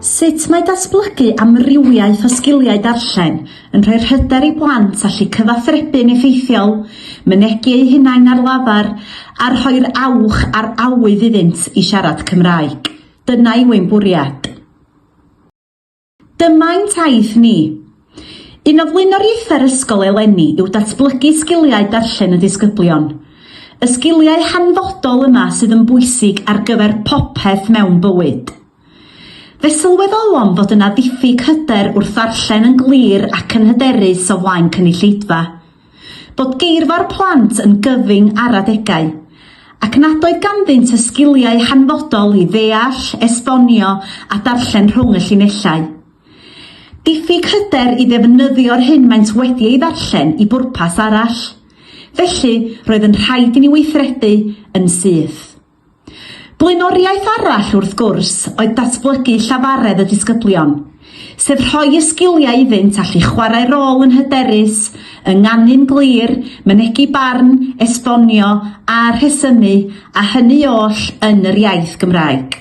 Sut mae datblygu amrywiaeth o sgiliau darllen yn rhoi hyder i blant allu cyfathrebu'n effeithiol, mynegi eu hunain ar lafar, a rhoi'r awch a'r awydd iddynt i siarad Cymraeg? Dyna yw ein bwriad. Dymai'n taith ni! Un o flaenoriaethau'r ysgol eleni yw datblygu sgiliau darllen y ddisgyblion. Y sgiliau hanfodol yma sydd yn bwysig ar gyfer popeth mewn bywyd. Fe sylweddolom fod yna ddiffyg hyder wrth ddarllen yn glir ac yn hyderus o flaen cynulleidfa. Bod geirfa'r plant yn gyfyng ar adegau, ac nad oedd ganddynt y sgiliau hanfodol i ddeall, esbonio a darllen rhwng y llinellau. Diffyg hyder i ddefnyddio'r hyn maent wedi ei ddarllen i bwrpas arall. Felly, roedd yn rhaid i ni weithredu yn syth. Blaenoriaeth arall, wrth gwrs, oedd datblygu llafaredd y disgyblion, sef rhoi y sgiliau iddynt allu chwarae rôl yn hyderus, ynganu'n glir, mynegi barn, esbonio a rhesymu, a hynny oll yn yr iaith Gymraeg.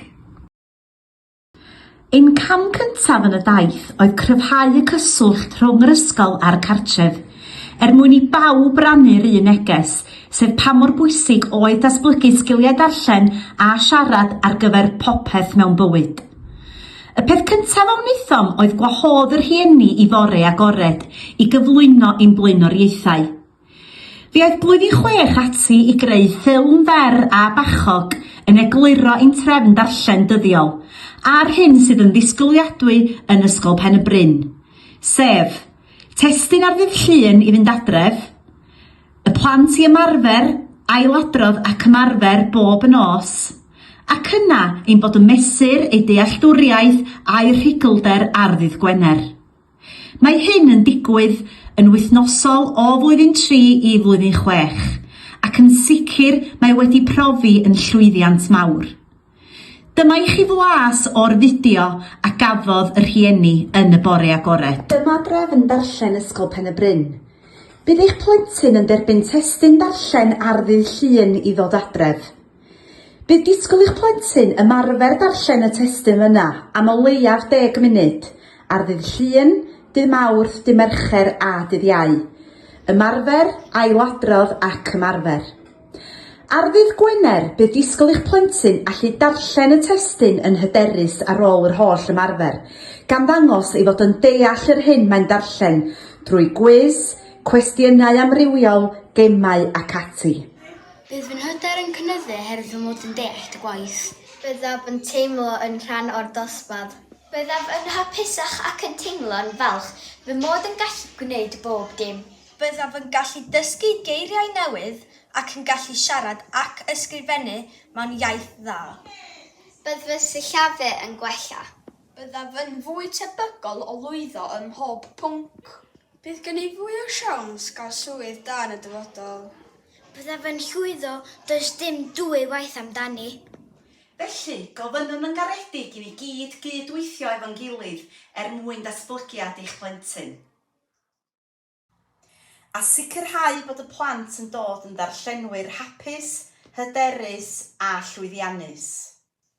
Ein cam cyntaf yn y daith oedd cryfhau y cyswllt rhwng yr ysgol a'r cartref, er mwyn i bawb rannu'r un neges, sef pa mor bwysig oedd datblygu sgiliau darllen a siarad ar gyfer popeth mewn bywyd. Y peth cyntaf a wnaethom oedd gwahodd y rhieni i fore agored i gyflwyno ein blaenoriaethau. Fe oedd Blwyddyn Chwech ati i greu ffilm fer a bachog yn egluro ein trefn darllen dyddiol a'r hyn sydd yn ddisgwyliadwy yn Ysgol Pen-y-bryn, sef, testun ar ddydd Llun i fynd adref, y plant i ymarfer, ailadrodd ac ymarfer bob nos, ac yna ein bod yn mesur eu dealltwriaeth a'u rhugylder ar ddydd Gwener. Mae hyn yn digwydd yn wythnosol o flwyddyn tri i flwyddyn chwech, ac yn sicr mae wedi profi yn llwyddiant mawr. Dyma i chi flas o'r fideo a gafodd y rhieni yn y bore agored. Dyma drefn darllen Ysgol Pen-y-bryn. Bydd eich plentyn yn derbyn testun darllen ar ddydd Llun i ddod adref. Bydd disgwyl i'ch plentyn ymarfer darllen y testun yna am o leiaf deg munud, ar ddydd Llun, dydd Mawrth, dydd Mercher a dydd Iau. Ymarfer, ailadrodd ac ymarfer. Ar ddydd Gwener, bydd disgwyl i'ch plentyn allu darllen y testun yn hyderus ar ôl yr holl ymarfer, gan ddangos ei fod yn deall yr hyn mae'n darllen drwy gwis, cwestiynau amrywiol, gemau ac ati. Bydd fy hyder yn cynyddu oherwydd fy mod yn deall dy gwaith. Byddaf yn teimlo yn rhan o'r dosbarth. Byddaf yn hapusach ac yn teimlo'n falch fy mod yn gallu gwneud bob dim. Byddaf yn gallu dysgu geiriau newydd ac yn gallu siarad ac ysgrifennu mewn iaith dda. Bydd fy sillafu yn gwella. Byddaf yn fwy tebygol o lwyddo ym mhob pwnc. Bydd gen i fwy o siawns gael swydd da yn y dyfodol. Byddaf yn llwyddo, does dim dwy waith amdani. Felly, gofynnwn yn garedig i ni gyd gyd-weithio efo'n gilydd er mwyn datblygiad eich plentyn. A sicrhau bod y plant yn dod yn ddarllenwyr hapus, hyderus a llwyddiannus.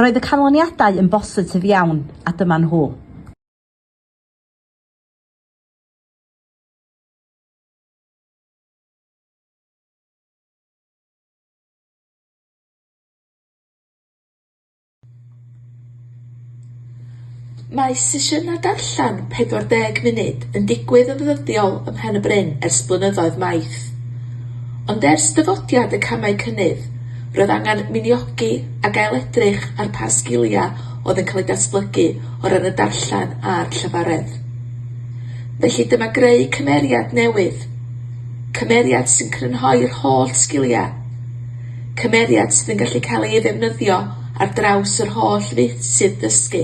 Roedd y canlyniadau yn bositif iawn, a dyma nhw. Mae sesiynau darllen 40 munud yn digwydd yn ddyddiol ym Mhen-y-bryn ers blynyddoedd maith. Ond ers dyfodiad y camau cynnydd, roedd angen miniogi ac ail-edrych ar pa sgiliau oedd yn cael eu datblygu o ran y darllen a'r llafaredd. Felly dyma greu cymeriad newydd, cymeriad sy'n crynhoi'r holl sgiliau. cymeriad sydd yn gallu cael ei ddefnyddio ar draws yr holl feysydd dysgu,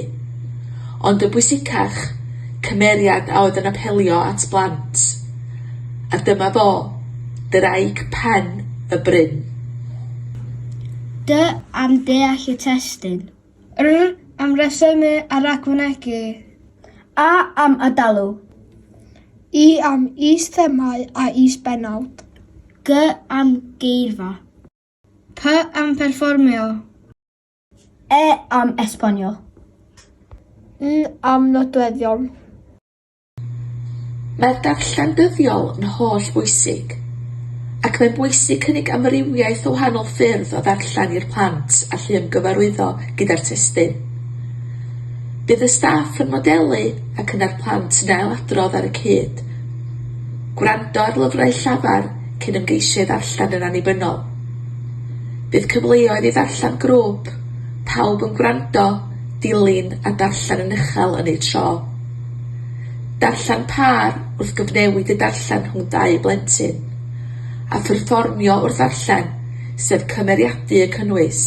ond yn bwysicach, cymeriad a oedd yn apelio at blant. A dyma fo, Ddraig Pen y Bryn. Dw am deall y testun. R, am resymu a ragfynegi. A, am ad-dalu. I, am is-themâu a is-bennawd. G, am geirfa. P, am pherfformio. E, am esbonio. N, am nodweddion. Mae'r darllen dyddiol yn holl bwysig, ac mae'n bwysig cynnig amrywiaeth o wahanol ffyrdd o ddarllen i'r plant allu ymgyfarwyddo gyda'r testun. Bydd y staff yn modelu ac yna'r plant yn ailadrodd ar y cyd. Gwrando ar lyfrau llafar cyn ymgeisio i ddarllen yn annibynnol. Bydd cyfleoedd i ddarllen grŵp, pawb yn gwrando, dilyn a darllen yn uchel yn eu tro. Darllen pâr wrth gyfnewid y darllen rhwng dau blentyn, a pherfformio wrth ddarllen, sef cymeriadu y cynnwys.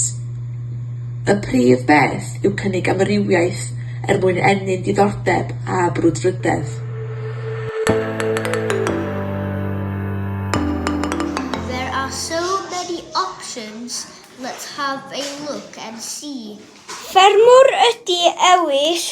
Y prif beth yw cynnig amrywiaeth er mwyn ennyn diddordeb a brwdfrydedd. There are so many options, let's have a look and see. Ffermwr ydy Ewyll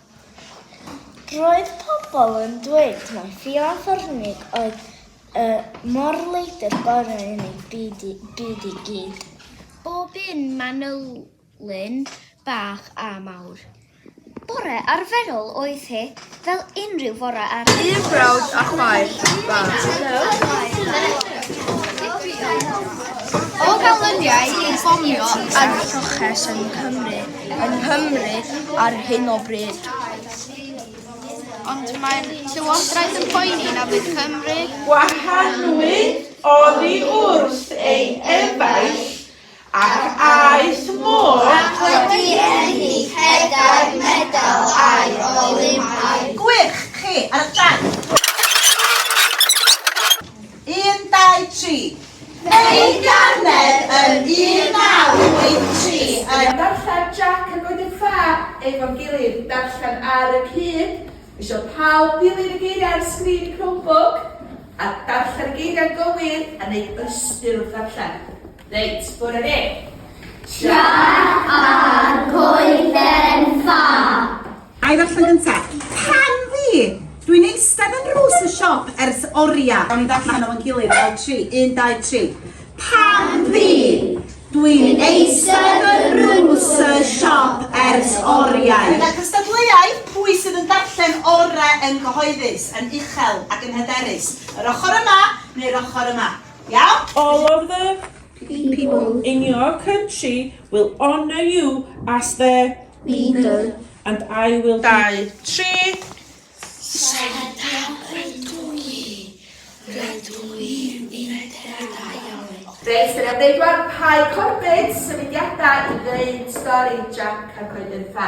Roedd pobl yn dweud mai Ffion Fornig oedd y morleidr gorau yn ei byd i, byd i gyd. Bob un manylyn bach a mawr. Bore arferol oedd hi, fel unrhyw fore arall. Un brawd a chwaer bach. O ganlyniad i fomio ar y lloches yng Nghymru, yn Nghymru ar hyn o bryd. Ond mae'r Llywodraeth yn poeni na fydd Cymru... Gwahanwyd oddi wrth ei efaill ac aeth mor... Ac wedi enni pedair medal aer Olympaidd. Gwych! Chi ar y trac! Un, dau, tri. Ein ganed yn 1983 yn. Darllen, Jac ac wedyn Ffab efo'n gilydd, darllen ar y cyd, isio pawb dilyn y geiriau ar sgrin y Chromebook a darllen y geiriau'n gywir a neud ystyr wrth ddarllen. Reit, bore de! Siar ar goeden ffa! Ai ddarllen gynta? Can fi! Dwi'n eistedd yn rhws y siop ers oria. Gawn ni ddarllen o'n gilydd fel tri. Un, dau, tri. Pan fi! Dwi'n eistedd yn rhws y siop ers oriau. Gyda cystadleuau, pwy sydd yn darllen orau yn gyhoeddus, yn uchel ac yn hyderus? Yr ochr yma neu'r ochr yma? Iawn? All of the people in your country will honour you as their leader and I will... Dau, tri. Reit, dyna ddeudwar Pai Corbett, symudiadau i ddweud stori Jack a Coeden Ffa.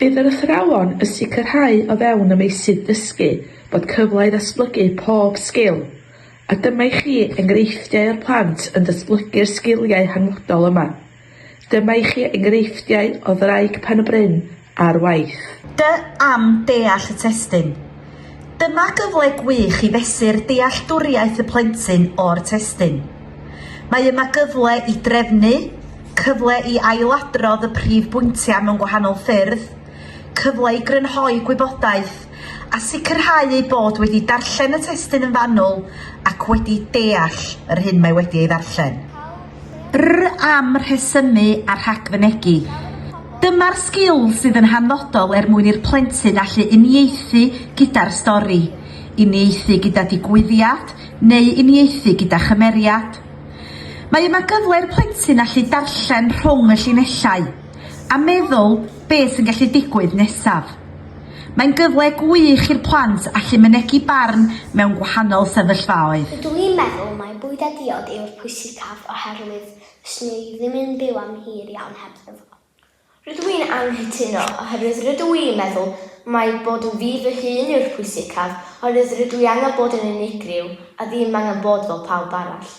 Bydd yr athrawon y sicrhau o fewn y meysydd dysgu bod cyfle i ddatblygu pob sgil, a dyma i chi enghreifftiau o'r plant yn datblygu'r sgiliau hanfodol yma. Dyma i chi enghreifftiau o ddraig pen-y-bryn ar waith. Dw am deall y testun. Dyma gyfle gwych i fesur dealltwriaeth y plentyn o'r testun. Mae yma gyfle i drefnu, cyfle i ailadrodd y prif bwyntiau mewn gwahanol ffyrdd, cyfle i grynhoi gwybodaeth a sicrhau eu bod wedi darllen y testun yn fanwl ac wedi deall yr hyn mae wedi ei ddarllen. Rr am rhesymu a rhagfynegi. Dyma'r sgil sydd yn hanfodol er mwyn i'r plentyn allu uniaethu gyda'r stori, uniaethu gyda digwyddiad neu uniaethu gyda chymeriad. Mae yma gyfle i'r plentyn allu darllen rhwng y llinellau a meddwl beth sy'n gallu digwydd nesaf. Mae'n gyfle gwych i'r plant allu mynegi barn mewn gwahanol sefyllfaoedd. Rydw i'n meddwl mai bwyd a diod yw'r pwysicaf oherwydd fyswn i ddim yn byw am hir iawn hebddo fo. Rydw i'n anghytuno oherwydd rydw i'n meddwl mai bod yn fi fy hun yw'r pwysicaf oherwydd rydw i angen bod yn unigryw a ddim angen bod fel pawb arall.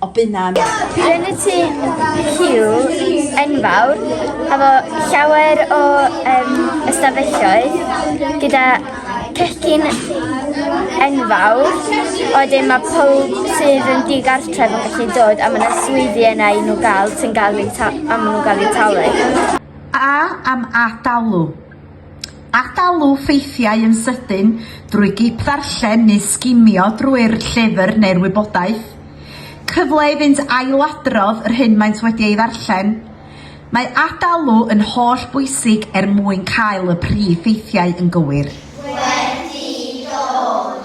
o bunnan. Yn y tŷ Hugh enfawr, efo llawer o um, ystafelloedd, gyda cecyn enfawr, oedden mae pob sydd yn digartref yn gallu dod a mae yna swyddi yna i nhw gael sy'n gael eu am nhw'n gael eu talu. A am adalw? Atalu ffeithiau yn sydyn drwy gip-ddarllen neu sgimio drwy'r llyfr neu'r wybodaeth. Cyfle i fynd ailadrodd yr hyn maent wedi ei ddarllen. Mae atalu yn holl bwysig er mwyn cael y prif ffeithiau yn gywir. Wedi dod.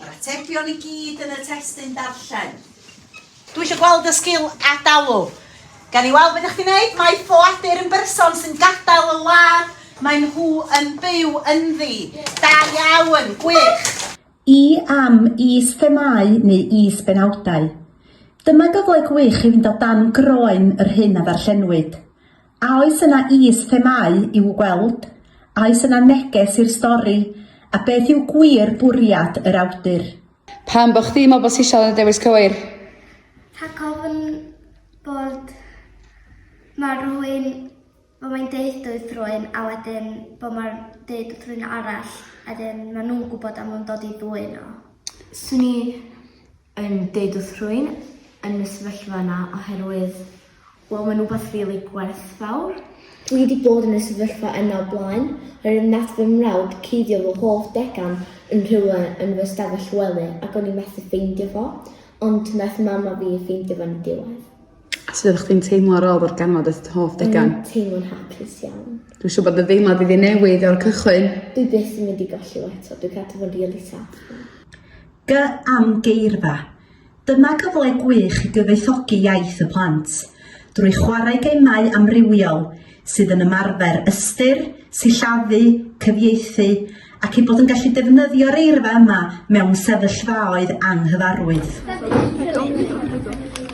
Mae'r atebion i gyd yn y testun darllen. Dwi eisiau gweld y sgil adalu. Gan i weld beth ydych chi'n gwneud, mae ffoadur yn berson sy'n gadael y wlad mae nhw yn byw ynddi. Da iawn, gwych! I am is-themâu neu is-benawdau? Dyma gyfle gwych i fynd o dan groen yr hyn a ddarllenwyd. A oes yna is-themâu i'w gweld? A oes yna neges i'r stori? A beth yw gwir bwriad yr awdur? Pam bo chdi'n meddwl bod Sisial yn y dewis cywir? Rhag ofn bod ma rhywun bod mae'n deud wrth rhywun a wedyn bod mae'n deud wrth rhywun arall a wedyn ma nhw'n gwybod a maen nhw'n dod i ddwyn o. Swn i yn deud wrth rhywun yn y sefyllfa yna oherwydd wel mae'n rhywbeth rili gwerthfawr. Dwi wedi bod yn y sefyllfa yna o blaen oherwydd nath fy mrawd cuddio fy hoff degan yn rhywle yn fy stafell wely ac o'n i methu ffeindio fo ond nath mam a fi ffeindio fo'n diwedd. A sut oeddech chdi'n teimlo ar ôl ddarganfod eich hoff O'n degan? i'n teimlo'n hapus iawn. Dwi'n siŵr bod dy ddeimlad wedi newid o'r cychwyn. Dwi byth yn mynd i golli o eto, dwi'n cadw fo'n rili sâl. G am geirfa. Dyma gyfle gwych i gyfoethogi iaith y plant, drwy chwarae gemau amrywiol sydd yn ymarfer ystyr, sillafu, cyfieithu, ac eu bod yn gallu defnyddio'r eirfa yma mewn sefyllfaoedd anghyfarwydd.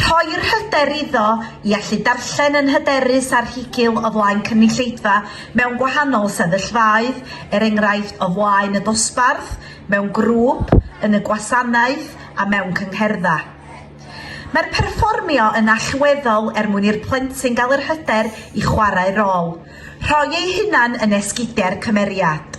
Rhoi'r hyder iddo i allu darllen yn hyderus ar higil o flaen cynulleidfa mewn gwahanol sefyllfaoedd, er enghraifft o flaen y dosbarth, mewn grŵp, yn y gwasanaeth a mewn cyngherddau. Mae'r perfformio yn allweddol er mwyn i'r plentyn gael yr hyder i chwarae rôl, rhoi eu hunan yn esgidiau'r cymeriad.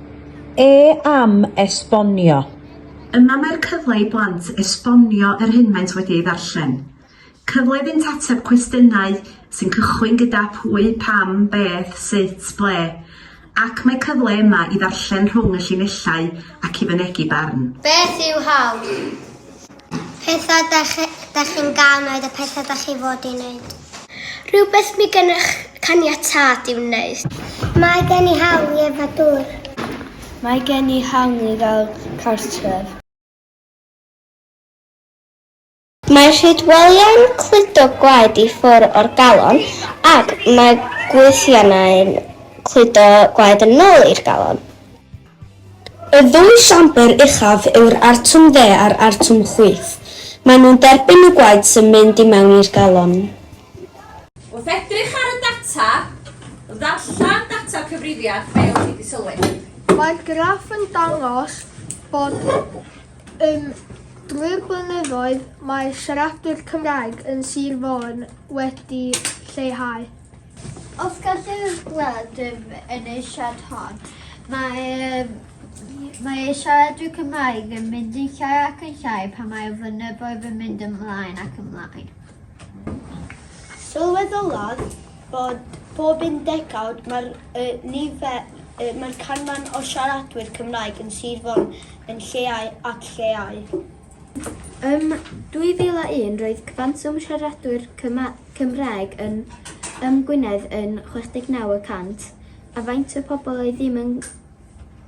E am esbonio. Yma mae'r cyfle i blant esbonio yr hyn maent wedi ei ddarllen. Cyfle iddynt ateb cwestiynau sy'n cychwyn gyda pwy, pam, beth, sut, ble. Ac mae cyfle yma i ddarllen rhwng y llinellau ac i fynegi barn. Beth yw hawl? Pethau da chi'n gael wneud a pethau da chi fod i wneud. Rhywbeth mi gennych caniatad i wneud. Mae gen i hawl i efo dŵr. Mae gen i hawl i gael cartref. Mae rhyd welyau'n cludo gwaed i ffwr o'r galon ac mae gwythiannau'n cludo gwaed yn ôl i'r galon. Y ddwy siambr uchaf yw'r Artwm Dde a'r Artwm Chwith. Maen nhw'n derbyn y gwaed sy'n mynd i mewn i'r galon. Wrth edrych ar y data, ddarllen data'r cyfrifiad fel y ti di sylwi. Mae'r graff yn dangos bod ym drwy'r blynyddoedd mae siaradwyr Cymraeg yn Sir Fôn wedi lleihau. Os gall y gwlad yn y siart hon, mae, mae ei siaradwyr Cymraeg yn mynd yn llai ac yn llai pan mae y flynyddoedd yn mynd ymlaen ac ymlaen. Sylweddolodd bod bob un degawd mae'r uh, nifer, uh, mae'r canran o siaradwyr Cymraeg yn Sir Fôn yn lleau ac lleau. Ym 2001 roedd cwantwm siaradwyr Cymraeg yn ym Gwynedd yn 69 y cant, a faint y pobl oedd ddim yn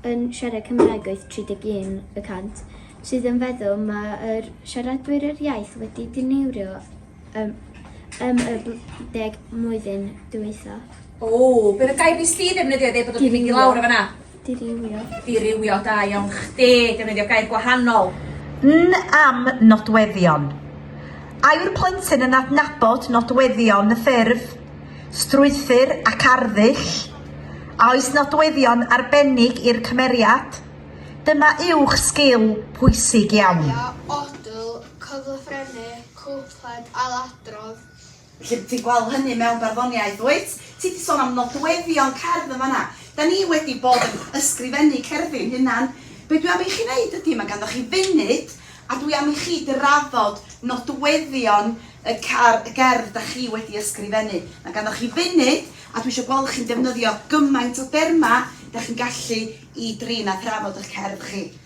yn siarad Cymraeg oedd 31 y cant, sydd yn feddwl mae yr siaradwyr yr iaith wedi diniwrio ym ym y bl deg mlwyddyn dwytha. Ww, bydd y gair BC ddefnyddio iddi bod o 'di mynd i lawr o fanna. Dirywio. Dirywio, da iawn chdi, defnyddio gair gwahanol. N am nodweddion. A yw'r plentyn yn adnabod nodweddion y ffurf, strwythur ac arddull? A oes nodweddion arbennig i'r cymeriad? Dyma uwch sgil pwysig iawn. Ia, odl, cyflafrennu. Cwpled ailadrodd. Felly, ti'n gweld hynny mewn barddoniaeth, wyt? Ti 'di sôn am nodweddion cerdd yn fan'na. Da ni wedi bod yn ysgrifennu cerddi'n hunan. Be' dwi am i chi neud ydi, ma' ganddoch chi funud, a dwi am i chi drafod nodweddion y car- y gerdd da chi wedi ysgrifennu. Ma' ganddoch chi funud, a dwi isio gweld chi'n defnyddio gymaint o derma da chi'n gallu i drin a thrafod 'ych cerdd chi.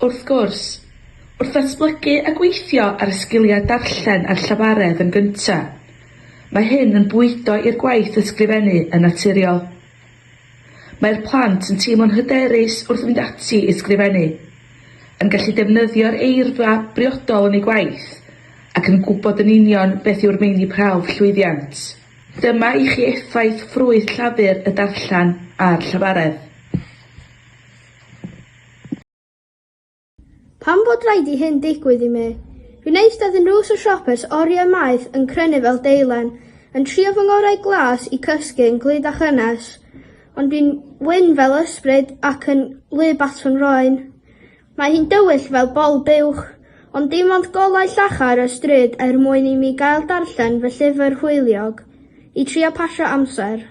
Wrth gwrs, wrth ddatblygu a gweithio ar y sgiliau darllen a'r llafaredd yn gyntaf, mae hyn yn bwydo i'r gwaith ysgrifennu yn naturiol. Mae'r plant yn teimlo'n hyderus wrth fynd ati i ysgrifennu, yn gallu defnyddio'r eirfa briodol yn eu gwaith, ac yn gwybod yn union beth yw'r meini prawf llwyddiant. Dyma i chi effaith ffrwyth llafur y darllen a'r llafaredd. Pam bod raid i hyn digwydd i mi? Fi'n eistedd yn rhws y siopes oriau maith yn crynu fel deilen, yn trio fy ngorau glas i cysgu yn glyd a chynnes, ond fi'n wyn fel ysbryd ac yn wlyb at fy nhroen. Mae hi'n dywyll fel bol buwch, ond dim ond golau llachar y stryd er mwyn i mi gael darllen fy llyfr hwyliog, i trio pasio amser.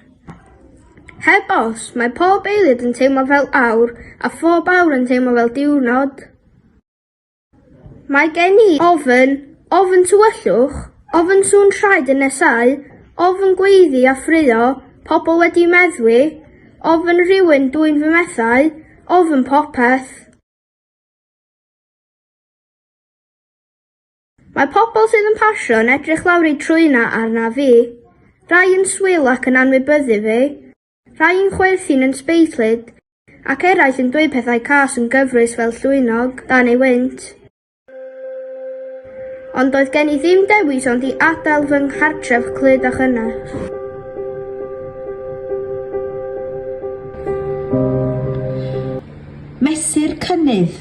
Heb os, mae pob eiliad yn teimlo fel awr, a phob awr yn teimlo fel diwrnod. Mae gen i ofn, ofn tywyllwch, ofn sŵn traed yn nesau, ofn gweiddi a ffraeo, pobl wedi meddwi, ofn rhywun dwyn fy mhethau, ofn popeth. Mae pobl sydd yn pasio yn edrych lawr eu trwynau arnaf fi. Rhai yn swil ac yn anwybyddu fi, rhai yn chwerthin yn sbeitlyd, ac eraill yn dweud pethau cas yn gyfrwys fel llwynog dan ei wynt. Ond doedd gen i ddim dewis ond i adael fy nghartref clyd a chynnes. Mesur cynnydd.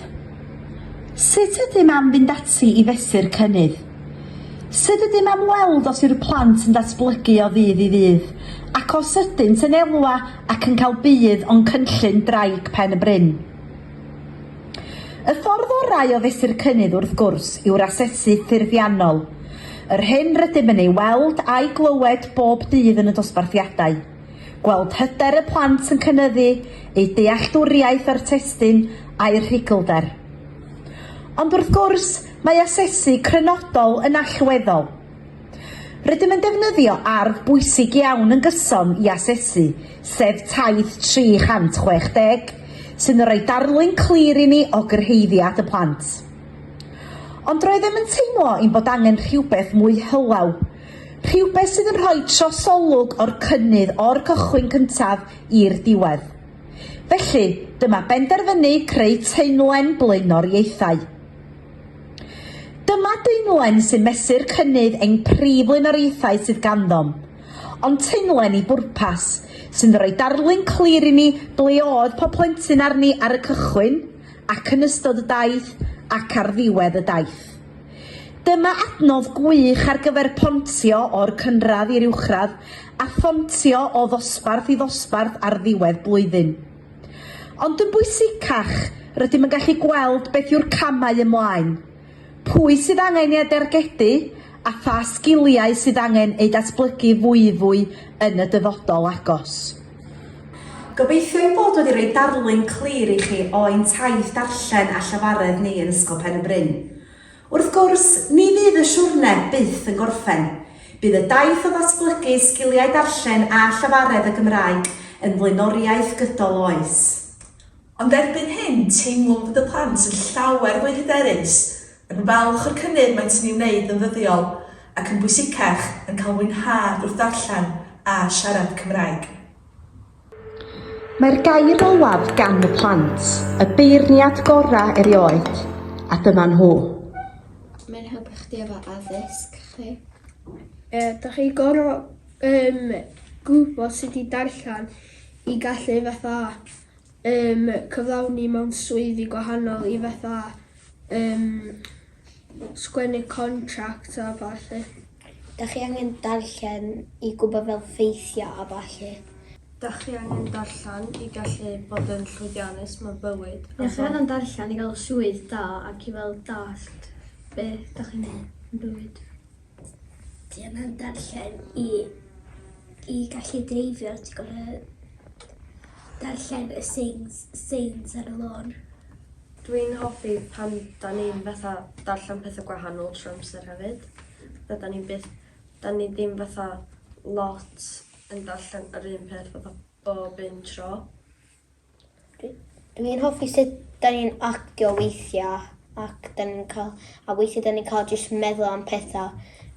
Sut ydym am fynd ati i fesur cynnydd? Sut ydym am weld os yw'r plant yn datblygu o ddydd i ddydd, ac os ydynt yn elwa ac yn cael budd o'n cynllun Ddraig Pen y Bryn? Y ffordd orau o fesur cynnydd, wrth gwrs, yw'r asesu ffurfiannol, yr hyn rydym yn ei weld a'i glywed bob dydd yn y dosbarthiadau. Gweld hyder y plant yn cynyddu, eu dealltwriaeth o'r testun a'u rhuglder. Ond wrth gwrs, mae asesu crynodol yn allweddol. Rydym yn defnyddio arf bwysig iawn yn gyson i asesu, sef Taith 360, sy'n yn rhoi darlun clir i ni o gyrhaeddiad y plant. Ond roeddem yn teimlo ein bod angen rhywbeth mwy hylaw, Rhywbeth sydd yn rhoi trosolwg o'r cynnydd o'r cychwyn cyntaf i'r diwedd. Felly, dyma benderfynu creu teimlen blaenoriaethau. Dyma deimlen sy'n mesur cynnydd ein prif flaenoriaethau sydd ganddo'n, ond teimlen i bwrpas, sy'n rhoi darlun clir i ni ble oedd pob plentyn arni ar y cychwyn, ac yn ystod y daith, ac ar ddiwedd y daith. Dyma adnodd gwych ar gyfer pontio o'r cynradd i'r uwchradd a phontio o ddosbarth i ddosbarth ar ddiwedd blwyddyn. Ond yn bwysicach, rydym yn gallu gweld beth yw'r camau ymlaen, pwy sydd angen eu dargedu a pha sgiliau sydd angen eu datblygu fwyfwy yn y dyfodol agos. Gobeithio ein bod wedi rhoi darlun clir i chi o ein taith darllen a llafaredd ni yn Ysgol Pen-y-bryn. Wrth gwrs, ni fydd y siwrne byth yn gorffen. Bydd y daith o ddatblygu sgiliau darllen a llafaredd y Gymraeg yn flaenoriaeth gydol oes. Ond erbyn hyn, teimwn bod y plant yn llawer fwy hyderus Yn falch o'r cynnydd maent yn ei wneud yn ddyddiol, ac yn bwysicach, yn cael mwynhad wrth ddarllen a siarad Cymraeg. Mae'r gair olaf gan y plant, y beirniad gorau erioed, a dyma nhw. Mae'n helpu chdi efo addysg chi. E, da chi gorau um, gwybod sut i darllen i gallu fatha Ym cyflawni mewn swyddi gwahanol i fatha ym sgwennu contract a ballu. Dach chi angen darllen i gwybod fel ffeithia a ballu. Dach chi angen darllen i gallu bod yn llwyddiannus mewn bywyd a Dach chi angen darllen i gael swydd da ac i fel dallt beth dach chi'n neud yn bywyd. Dwi ddim yn darllen i i gallu dreifio, dwi gor'o' darllen y seins seins ar y lôn. Dwi'n hoffi pan 'dan ni'n fatha darllen petha gwahanol trw amser hefyd, fatha 'dan ni byth 'dan ni ddim fatha lot yn darllen yr un peth fatha bob un tro. Dwi'n hoffi sut da ni'n actio weithiau ac da ni'n cael... a weithiau da ni'n cael jyst meddwl am pethau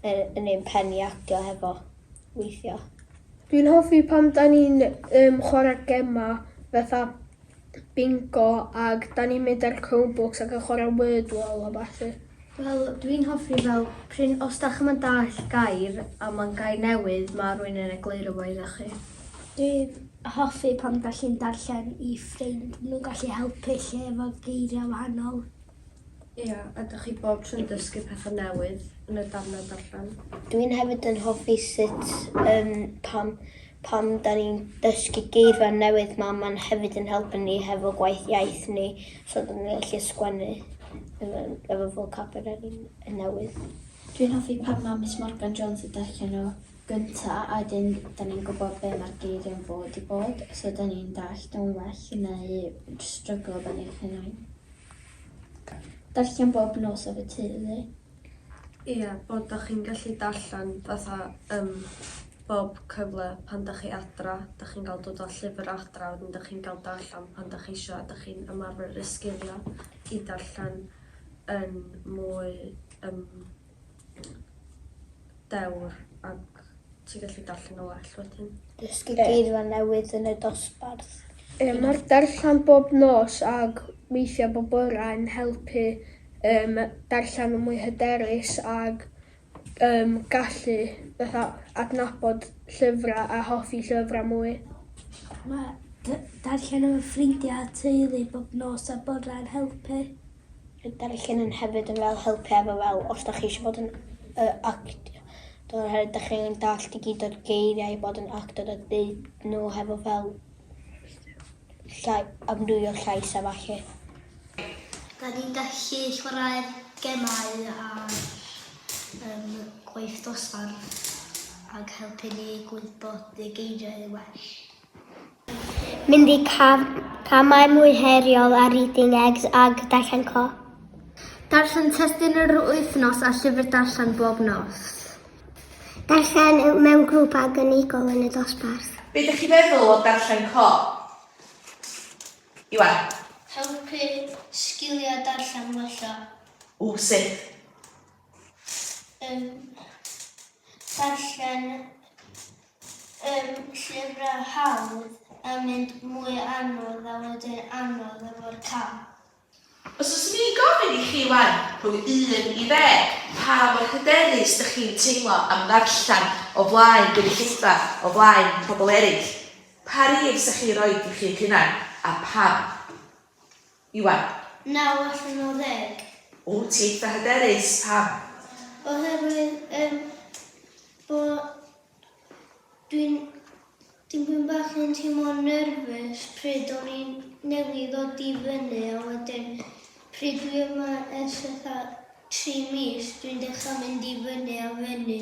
yn, yn ein pen i actio hefo weithiau. Dwi'n hoffi pan da ni'n um, chwarae gemau fatha bingo ac da ni'n mynd ar Chromebooks ac yn chwarae Wordwall a bathu. Wel dwi'n hoffi fel prin os dach chi'm yn dallt gair a ma'n gair newydd ma' rywun yn egluro fo idda chi. Dwi'n hoffi pan gallu'n darllen i ffrind nhw gallu helpu lle efo geiriau wahanol. Ia a dych chi bob tro'n dysgu petha newydd yn y darnau darllen. Dwi'n hefyd yn hoffi sut yym pan Pan 'da ni'n dysgu geirfa newydd ma' ma'n hefyd yn helpu ni hefo gwaith iaith ni so 'da ni'n gallu sgwennu efo efo vocabulary n- newydd. Dwi'n hoffi pan ma' Miss Morgan Jones yn darllen nw gynta a wedyn 'da ni'n gwbo be' ma'r geiria'n fod i bod so 'da ni'n dallt o'n well neu js stryglo efo ni'n hunain. Darllen bob nos efo teulu. Ia, bod 'da chi'n gallu darllen fatha ym bob cyfle pan 'da chi adra, 'da chi'n ga'l dod â llyfr adra wedyn 'da chi'n ga'l darllen pan 'da chi isio a 'da chi'n ymarfer y sgilia i darllen yn mwy yym dewr ac ti'n gallu darllen o well wedyn. Dysgu geirfa newydd yn y dosbarth. Ie, mae'r darllen bob nos ac weithiau bob bore yn helpu um, darllen yn mwy hyderus ac um, gallu fatha, adnabod llyfrau a hoffi llyfrau mwy. Mae darllen efo ffrindiau a teulu bob nos a bore yn helpu. Bydd darllen yn hefyd yn fel helpu efo fel os dach chi eisiau bod yn yy actio dod o hyd dach chi angen dallt i gyd o'r geiriau i bod yn actor a deud nhw hefo fel llai amrywio llais a falle. Da ni'n gallu chwarae gemau ar um, gwaith dosbarth ac helpu ni gwybod y geiriau well. Mynd i cam, camau mwy heriol ar Reading Eggs ag Darllen Co. Darllen testun yr wythnos a llyfr darllen bob nos. Darllen mewn grŵp ag unigol yn y dosbarth. Be ydych chi'n meddwl o Darllen Co? Iwan. Helpu sgiliau darllen wella. O, sut? Yn darllen Yw'r llyfrau hawdd yn mynd mwy anodd a wedyn anodd efo'r cam? Os fyswn i'n gofyn i chi wan, rhwng un i ddeg, pa mor hyderus dych chi'n teimlo am ddarllen o flaen gynulleidfa, o flaen pobl eraill? Pa rif 'sech chi roid i chi'ch hunan, a pam? Iwan. Naw allan o ddeg. O, ti eitha hyderus. Pam? Oherwydd yym bo dwi'n dipyn bach yn teimlo nerfus pryd o'n i'n newydd ddod i fyny a wedyn pryd dwi yma ers fatha tri mis dwi'n dechrau mynd i fyny a fyny.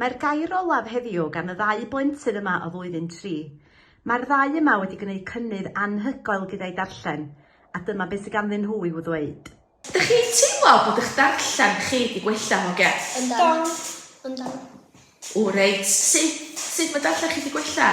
Mae'r gair olaf heddiw gan y ddau blentyn yma o flwyddyn tri. Mae'r ddau yma wedi gwneud cynnydd anhygoel gyda'i darllen, a dyma beth sydd ganddyn nhw i'w ddweud. Ydych chi'n teimlo bod eich darllen chi wedi gwella, hogia? Yndan. Yndan. O reit. Sut? Sut mae darllen chi wedi gwella?